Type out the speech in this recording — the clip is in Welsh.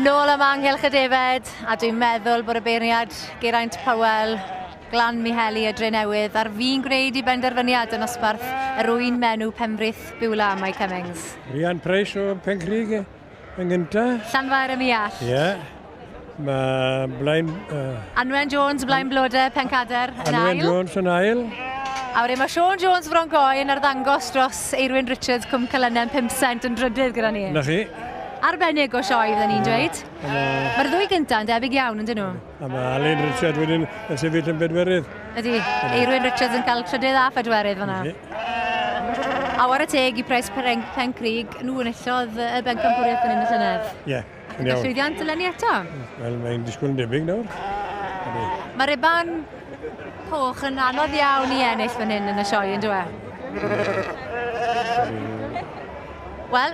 Nôl am Anghylch y Defaid, a dwi'n meddwl bod y beirniad Geraint Powell, Glan Miheli y Dre Newydd, ar fi'n gwneud i benderfyniad yn osbarth yr wy'n menw Pembrith Biwla, Mike Cummings. Ryan Price o Pencrige. yn gyntaf. Llanfair am i all. Ie. Yeah. Mae Blaen... Uh... Anwen Jones, Blaen Blode, Pencader, yn Anwen ail. Anwen Jones yn ail. A wedyn mae Sean Jones Fron Goi yn arddangos dros Eirwyn Richards Cwm Cylynen 5 cent yn drydydd gyda ni. Na chi. Arbennig o sioe, fydden ni'n dweud. Mae'r ddwy gyntaf yn debyg iawn, yn dyn nhw? A mae Alun Richard wedyn yn sefyll yn bedwerydd. Ydy, Eirwyn Richards yn cael trydydd a phedwerydd fyna. A war y teg i Pres Pen Crig, nhw yn illodd y bencampwriaeth yn un y llynedd. Ie, yeah, yn iawn. Llwyddiant eleni eto. Wel, mae'n disgwyl yn debyg nawr. Mae Reban Coch yn anodd iawn i ennill fan hyn yn y sioe, yn dweud? Wel,